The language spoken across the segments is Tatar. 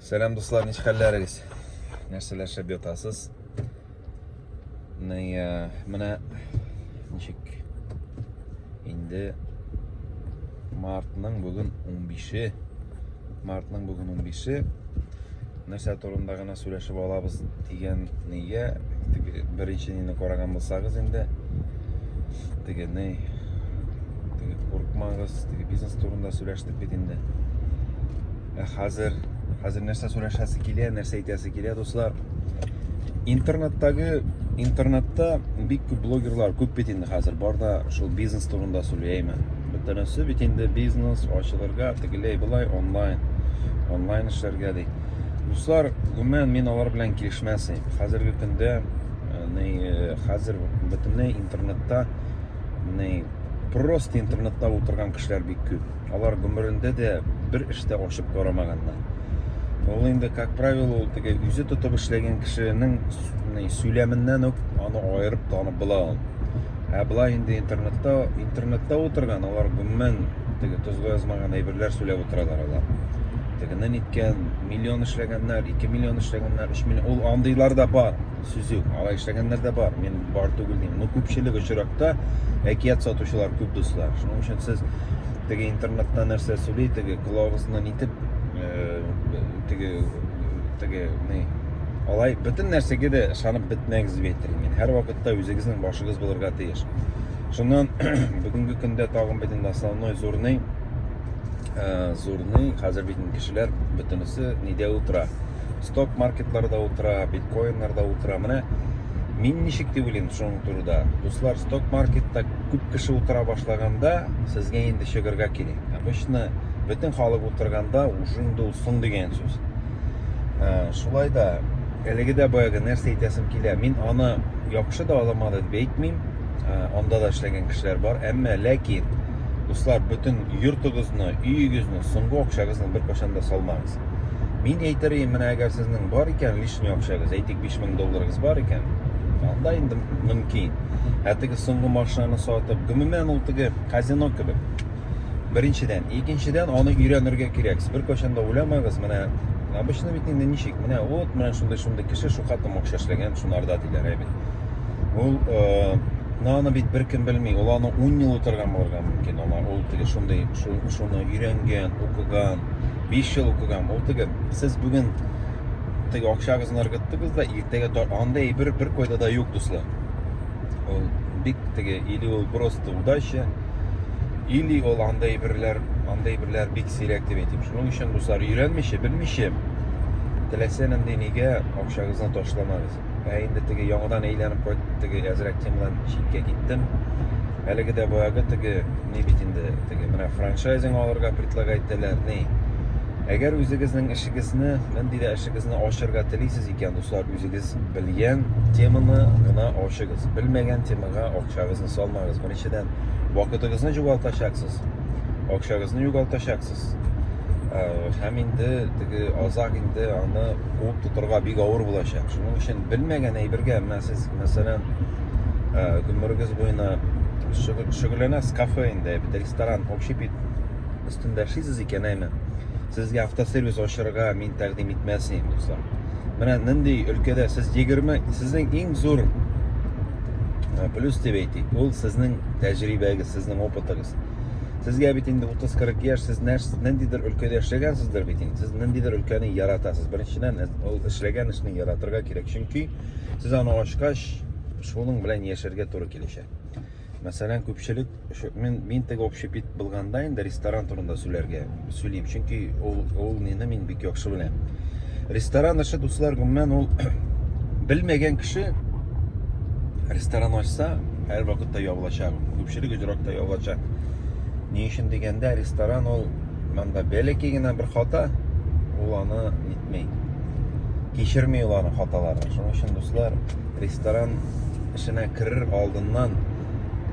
Сәлам дуслар, ничек хәлләрегез? Нәрсәләр шәп ятасыз? Менә ничек инде мартның бүген 15-е. Мартның бүген 15-е. Нәрсә турында гына Сөйләшеп алабыз дигән нигә теге беренче нины караган булсагыз инде теге ни теге курыкмагыз теге бизнес турында сөйләштек бит инде ә хәзер хәзер нәрсә сөйләшәсе килә нәрсә әйтәсе килә дуслар интернеттагы интернетта бик күп блогерлар күп бит инде хәзер бар да шул бизнес турында сөйләйме бөтенесе бит инде бизнес ачылырга тегеләй болай онлайн онлайн эшләргә ди Дуслар, гомумән мин алар белән килешмәсем. Хәзерге көндә, ни, хәзер бөтенләй интернетта, ни, просто интернетта утырган кешеләр бик күп. Алар гомерендә дә бер эштә ачып карамаганнар. Ул инде, как правило, ул теге үзе тотып эшләгән кешенең ни, сөйләменнән үк аны аерып танып була ул. Ә болай инде интернетта, интернетта утырган, алар гомумән теге тозга язмаган әйберләр сөйләп утыралар алар. Тегене ниткән, миллион эшләгәннәр, ике миллион эшләгәннәр, өч миллион, ул андыйлар да бар, сүз юк, алай эшләгәннәр дә бар, мин бар түгел дим. Но күпчелек очракта әкият сатучылар күп дуслар. Шуның өчен сез теге интернетта нәрсә сөйли, теге колагыгызны нитеп, э, теге, теге, не, алай, бөтен нәрсәгә дә ышанып бетмәгез дип әйтер мин. Һәр вакытта үзегезнең башыгыз булырга тиеш. Шуннан бүгенге көндә тагын бит инде основной, зурный, ә, зурный, хәзер бит кешеләр бөтенесе нидә утыра? Сток маркетларда утыра, биткоиннарда утыра. Менә мин ничек дип уйлыйм шуның турында. Дуслар, сток маркетта күп кеше утыра башлаганда, сезгә инде чыгырга кирәк. Обычно бөтен халык утырганда уже инде ул соң дигән сүз. Ә, шулай да әлеге дә баягы нәрсә әйтәсем килә. Мин аны яхшы да аламады дип әйтмим. Ә, анда да эшләгән кешеләр бар, әмма ләкин Дуслар, бөтен йортыгызны, өегезне, соңгы акчагызны беркайчан да салмагыз. Мин әйтер идем, менә әгәр сезнең бар икән лишний акчагыз, әйтик 5000 долларыгыз бар икән, анда инде мөмкин. Ә теге соңгы машинаны сатып, гомумән ул теге казино кебек. Беренчедән, икенчедән аны өйрәнергә кирәк. Сез беркайчан да уйламагыз, менә обычно бит инде ничек, менә вот, менә шундый-шундый кеше шука тым акча эшләгән, шунарда диләр, әйбит. Ул но аны бит беркем белми. Ул аны 10 ел утырган булырга мөмкин. Аңа ул теге шундый шуны өйрәнгән, укыган, 5 ел укыган. Ул теге сез бүген теге акчагызны ыргыттыгыз да иртәгә анда әйбер бер койда да юк, дуслар. Ул бик теге или ул просто удача, или ул анда әйберләр, анда әйберләр бик сирәк дип әйтим. Шуның өчен дуслар өйрәнмичә, белмичә теләсә нинди нигә акчагызны ташламагыз. ә инде теге яңадан әйләнеп кайтып теге әзрәк темадан читкә киттем әлеге дә баягы теге ни бит инде теге менә франчайзинг алырга предлагать итәләр ни әгәр үзегезнең эшегезне нинди дә эшегезне ачырга телисез икән дуслар үзегез белгән теманы гына ачыгыз белмәгән темага акчагызны салмагыз беренчедән вакытыгызны югалтачаксыз акчагызны югалтачаксыз һәм инде теге азак инде аны куып тотырга бик авыр булачак. Шуның өчен белмәгән әйбергә, менә сез, мәсәлән, э, гомерегез буена шөгыльләнәсез кафе инде, бит ресторан, общепит өстендә эшлисез икән, әйме? Сезгә автосервис ачырга мин тәкъдим итмәс идем, дуслар. Менә нинди өлкәдә сез 20, сезнең иң зур э, плюс дип әйтик, ул сезнең тәҗрибәгез, сезнең опытыгыз. Сезгә бит инде 30-40 яшь, сез ниндидер өлкәдә эшләгәнсездер бит инде. Сез ниндидер өлкәне яратасыз. Беренчедән, ул эшләгән эшне яратырга кирәк, чөнки сез аны ачкач, шуның белән яшәргә туры килешә. Мәсәлән, күпчелек, мин, мин теге общепит булганда инде ресторан турында сүләргә, сөйлим. Чөнки ул ул мине мин бик яхшы беләм. Ресторан эше дуслар гомумән ул белмәгән кеше ресторан ачса, һәр вакытта ябылачак. Күпчелек очракта ябылачак. Ни өчен дигәндә, ресторан ул монда бәләкәй генә бер хата, ул аны нитми. Кичерми ул аны хаталарын. Шуның өчен дуслар ресторан эшенә керер алдыннан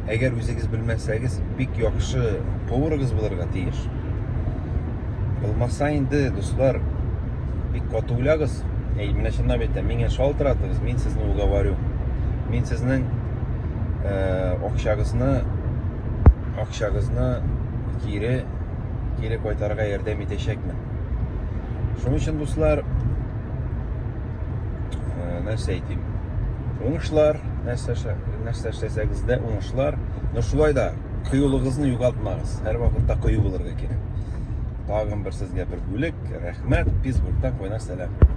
Әгәр үзегез белмәсәгез, бик яхшы поварыгыз булырга тиеш. Булмаса инде, дуслар, бик каты уйлагыз. Әй, менә чынлап әйтәм, миңа шалтыратыгыз, мин сезне уговорю. Мин сезнең э, акчагызны акчагызны кире кире кайтарырга ярдәм итәчәкмен. Шуның өчен, дуслар, э, нәрсә әйтим уңышлар нәрсә нәрсә эшләсәгез дә уңышлар но шулай да кыюлыгызны югалтмагыз һәрвакытта кыю булырга кирәк тагын бер сезгә бер бүлек рәхмәт пизбургтан кайнар сәлам